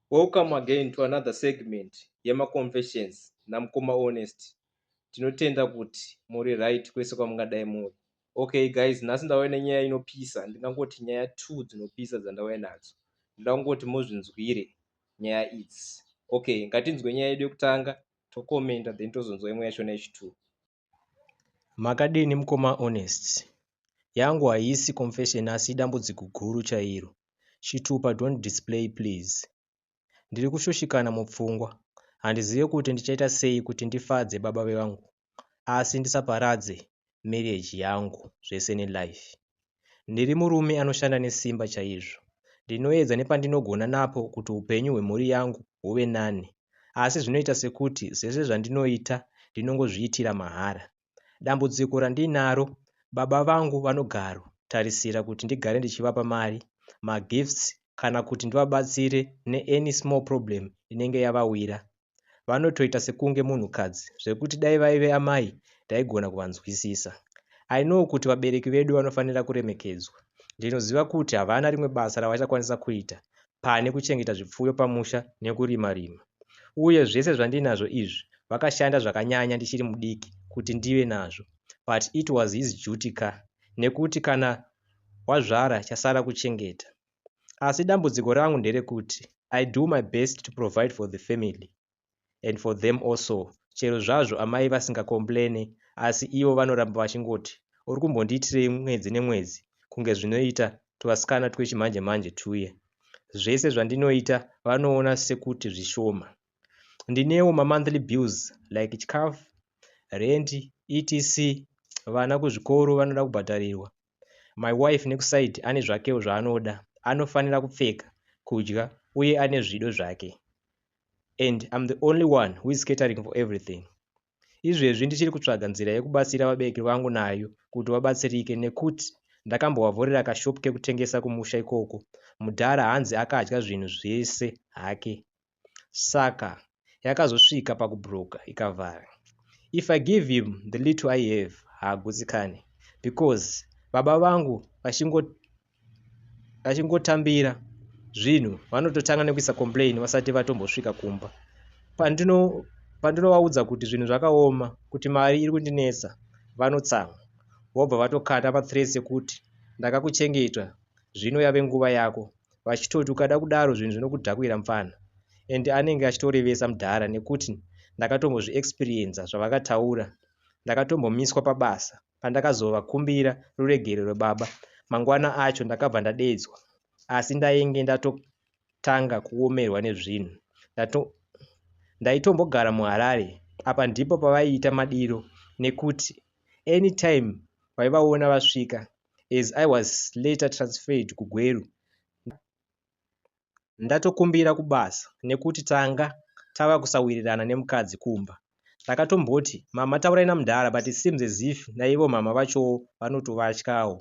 Welcome again to another segment yema confessions na mkoma Honest. Tinotenda kuti muri right kwese kwamungadai muri. Okay guys, nhasi ndauya nenyaya inopisa, ndingangoti nyaya two dzinopisa dzandauya nadzo. Ndoda kungoti muzvinzwire nyaya idzi. Okay, ngatinzwe nyaya yedu yekutanga, tokomenda then tozonzwa imwe yachona yechituru. Makadini mukoma Honest. Yangu haisi confession asi idambudziko guru chairo. Chitupa don't display please. Ndiri kushushikana mupfungwa. Handizive kuti ndichaita sei kuti ndifadze baba vangu asi ndisaparadze marriage yangu zvese nelife. Ndiri murume anoshanda nesimba chaizvo. Ndinoedza nepandinogona napo kuti upenyu hwemhuri yangu huve nani, asi zvinoita sekuti zvese zvandinoita ndinongozviitira mahara. Dambudziko randinaro, baba vangu vanogaro tarisira kuti ndigare ndichivapa mari, magifts kana kuti ndivabatsire neany small problem inenge yavawira, Vanotoita sekunge munhukadzi zvekuti dai vaive amai ndaigona kuvanzwisisa. I know kuti vabereki vedu vanofanira kuremekedzwa. Ndinoziva kuti havana rimwe basa ravachakwanisa kuita pane kuchengeta zvipfuyo pamusha nekurima rima. Uye zvese zvandinazvo izvi vakashanda zvakanyanya ndichiri mudiki kuti ndive nazvo. But it was his duty ka nekuti kana wazvara chasara kuchengeta. asi dambudziko rangu nderekuti I do my best to provide for the family and for them also chero zvazvo amai vasinga complaine asi ivo vanoramba vachingoti uri kumbondiitirei mwedzi nemwedzi kunge zvinoita tuvasikana twechimanje manje tuye zvese zvandinoita vanoona sekuti zvishoma ndinewo mamonthly bills like chikafu rendi etc vana kuzvikoro vanoda kubhadharirwa My wife nekuside ane zvakewo zvaanoda anofanira kupfeka, kudya uye ane zvido zvake and I'm the only one who is catering for everything. Izvezvi ndichiri kutsvaga nzira yekubatsira vabereki vangu nayo kuti vabatsirike nekuti ndakambovavhurira kashop kekutengesa kumusha ikoko mudhara hanzi akadya zvinhu zvese hake. Saka yakazosvika pakubroker ikavhara. If I give him the little I have haagutsikane because baba vangu vachingotambira zvinhu vanototanga nekuisa complain vasati vatombosvika kumba. Pandino pandinovaudza kuti zvinhu zvakaoma kuti mari iri kundinetsa vanotsamwa vobva vatokata mathreats ekuti ndakakuchengeta zvino yave nguva yako vachitoti ukada kudaro zvinhu zvinokudhakwira mfana and anenge achitorevesa mdhara nekuti ndakatombozvi experienza zvavakataura ndakatombomiswa pabasa pandakazova kumbira ruregerero baba mangwana acho ndakabva ndadedzwa asi ndainge ndatotanga kuomerwa nezvinhu ndato ndaitombogara muharare apa ndipo pavaiita madiro nekuti anytime vaivaona vasvika as I was later transferred kuGweru. Ndatokumbira kubasa nekuti tanga tava kusawirirana nemukadzi kumba. Ndakatomboti mama taurai namudhara but it seems as if naivo mama vachowo vanotovatyawo.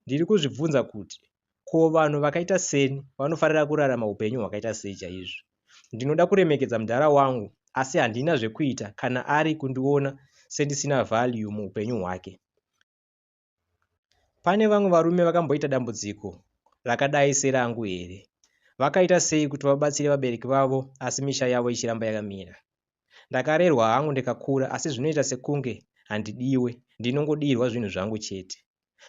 Ndiri kuzvibvunza kuti ko vanhu vakaita seni vanofarira kurarama upenyu hwakaita sei chaizvo. Ndinoda kuremekedza mudhara wangu asi handina zvekuita kana ari kundiona sendisina value muupenyu hwake. Pane vamwe varume vakamboita dambudziko rakadai serangu here? Vakaita sei kuti vabatsire vabereki vavo asi misha yavo ichiramba yakamira? Ndakarerwa hangu ndikakura asi zvinoita sekunge handidiwe, ndinongodiirwa zvinhu zvangu chete.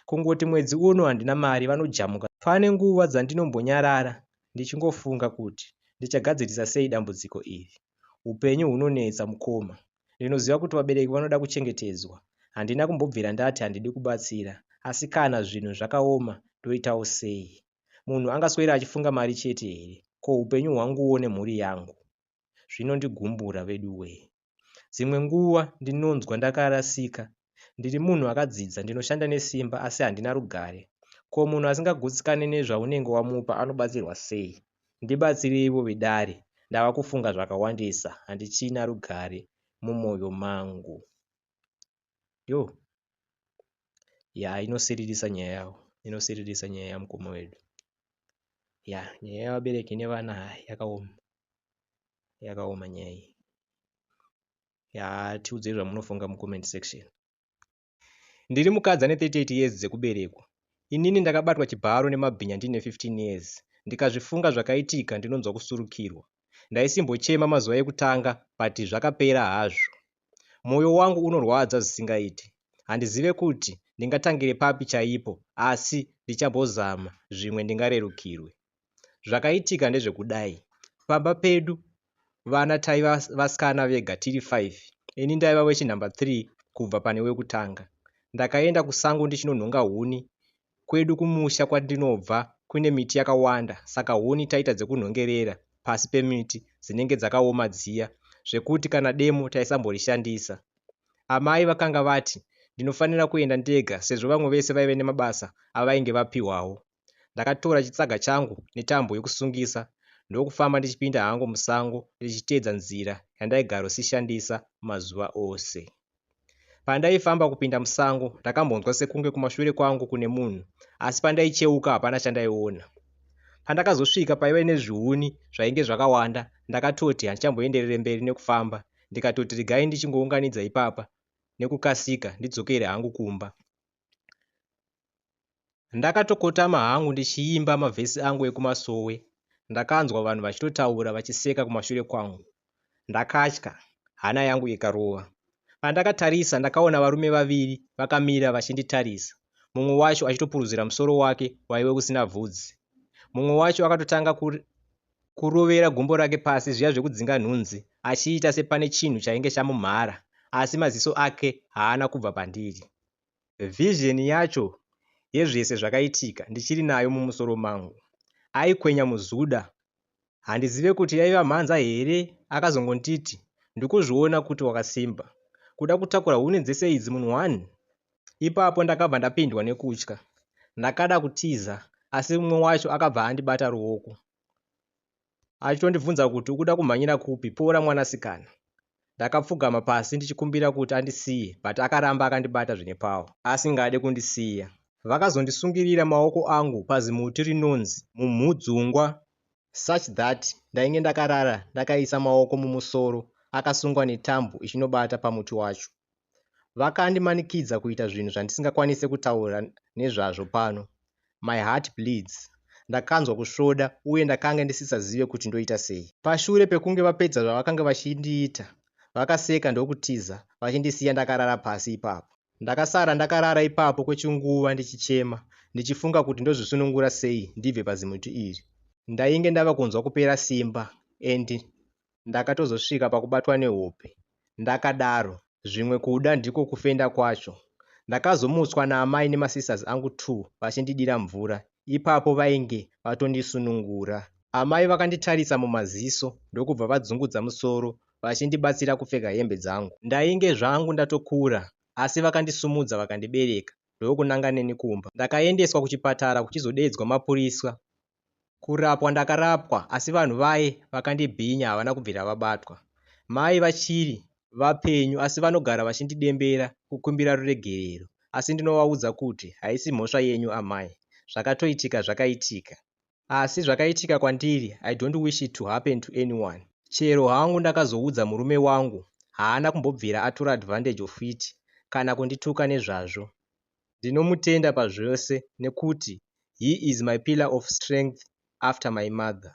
Kungoti mwedzi uno handina mari vanojamuka. Pane nguva dzandinombonyarara ndichingofunga kuti ndichagadzirisa sei dambudziko iri. Upenyu hunonetsa mukoma, Ndinoziva kuti vabereki vanoda kuchengetedzwa. Handina kumbobvira ndati handidi kubatsira. Asi kana zvinhu zvakaoma ndoitawo sei? Munhu angaswera achifunga mari chete here? Ko upenyu hwanguwo nemhuri yangu? Zvinondigumbura veduwee. Dzimwe nguva ndinonzwa ndakarasika Ndiri munhu akadzidza, ndinoshanda nesimba asi handina rugare. Ko munhu asingagutsikane nezvaunenge wamupa anobatsirwa sei? Ndibatsireivo vedare, ndava kufunga zvakawandisa, handichina rugare mumoyo mangu. Yo. Ya, inosiririsa nyaya yavo. Inosiririsa nyaya yamukoma wedu. Ya, nyaya yavabereki nevana yakaoma. Yakaoma nyaya iyi. yaa tiudzei zvamunofunga mucomment section ndiri mukadzi ane 38 years dzekuberekwa inini ndakabatwa chibharo nemabhinya ndiine 15 years ndikazvifunga zvakaitika ndinonzwa kusurukirwa ndaisimbochema mazuva ekutanga but zvakapera hazvo mwoyo wangu unorwadza zvisingaiti handizive kuti ndingatangire papi chaipo asi ndichambozama zvimwe ndingarerukirwe Zvakaitika ndezvekudai, pamba pedu vana taiva vasikana vega tiri five, ini ndaiva wechi number three kubva pane wekutanga. Ndakaenda kusango ndichinonhonga huni, kwedu kumusha kwandinobva kune miti yakawanda saka huni taiita dzekunhongerera pasi pemiti dzinenge dzakaoma dziya zvekuti kana demo taisamborishandisa. Amai vakanga vati ndinofanira kuenda ndega sezvo vamwe vese vaive nemabasa avainge vapihwawo. Ndakatora chitsaga changu netambo yokusungisa ndokufamba ndichipinda hangu musango ndichiteedza nzira yandaigarosishandisa mazuva ose. Pandaifamba kupinda musango ndakambonzwa sekunge kumashure kwangu kune munhu asi pandaicheuka hapana chandaiona. Pandakazosvika paiva nezvihuni zvainge zvakawanda ndakatoti handichamboenderere mberi nekufamba ndikatoti regai ndichingounganidza ipapa nekukasika ndidzokere hangu kumba. Ndakatokotama hangu ndichiimba mavhesi angu ekumasowe ndakanzwa vanhu vachitotaura vachiseka kumashure kwangu. Ndakatya, hana yangu ikarova. Pandakatarisa ndakaona varume vaviri vakamira vachinditarisa, mumwe wacho achitopuruzira musoro wake waive usina bvudzi. Mumwe wacho akatotanga kurovera gumbo rake pasi zviya zvekudzinga nhunzi achiita sepane chinhu chainge chamumhara asi maziso ake haana kubva pandiri. Vision yacho yezvese zvakaitika ndichiri nayo mumusoro mangu. Aikwenya muzuda. Handizive kuti yaiva mhanza here akazongonditi ndikuzviona kuti wakasimba. Kuda kutakura huni dzese idzi munhu one? Ipapo ndakabva ndapindwa nekutya. Ndakada kutiza asi umwe wacho akabva andibata ruoko. achitondibvunza kuti ukuda kumhanyira kupi pora mwanasikana ndakapfugama pasi ndichikumbira kuti andisiye but akaramba akandibata zvine pawo asingade kundisiya vakazondisungirira maoko angu pazimuti rinonzi mumhudzungwa such that ndainge ndakarara ndakaisa maoko mumusoro akasungwa netambo ichinobata pamuti wacho Vakandimanikidza kuita zvinhu zvandisingakwanise kutaura nezvazvo pano. My heart bleeds. Ndakanzwa kusvoda uye ndakange ndisisazive kuti ndoita sei. Pashure pekunge vapedza zvavakange vachindiita, vakaseka ndokutiza vachindisiya ndakarara pasi ipapo. Ndakasara ndakarara ipapo kwechinguva ndichichema ndichifunga kuti ndozvisunungura sei ndibve pazimuti iri. Ndainge ndava kunzwa kupera simba and ndakatozosvika pakubatwa nehope ndakadaro zvimwe kuda ndiko kufenda kwacho ndakazomutswa naamai nemasisters angu two vachindidira mvura ipapo vainge vatondisunungura amai vakanditarisa mumaziso ndokubva vadzungudza musoro vachindibatsira kupfeka hembe dzangu ndainge zvangu ndatokura asi vakandisumudza vakandibereka ndokunanga neni kumba ndakaendeswa kuchipatara kuchizodeedzwa mapuriswa Kurapwa ndakarapwa asi vanhu vaye vakandibhinya havana kubvira vabatwa. Mai vachiri vapenyu asi vanogara vachindidembera kukumbira ruregerero asi ndinovaudza kuti haisi mhosva yenyu amai, zvakatoitika zvakaitika. Asi zvakaitika kwandiri I don't wish it to happen to anyone. Chero hangu ndakazoudza murume wangu haana kumbobvira atora advantage of it kana kundituka nezvazvo. Ndinomutenda pazvose nekuti he is my pillar of strength after my mother.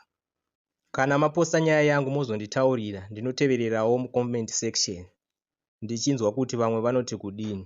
Kana maposta nyaya yangu mozonditaurira ndinotevererawo mu comment section ndichinzwa kuti vamwe vanoti kudini.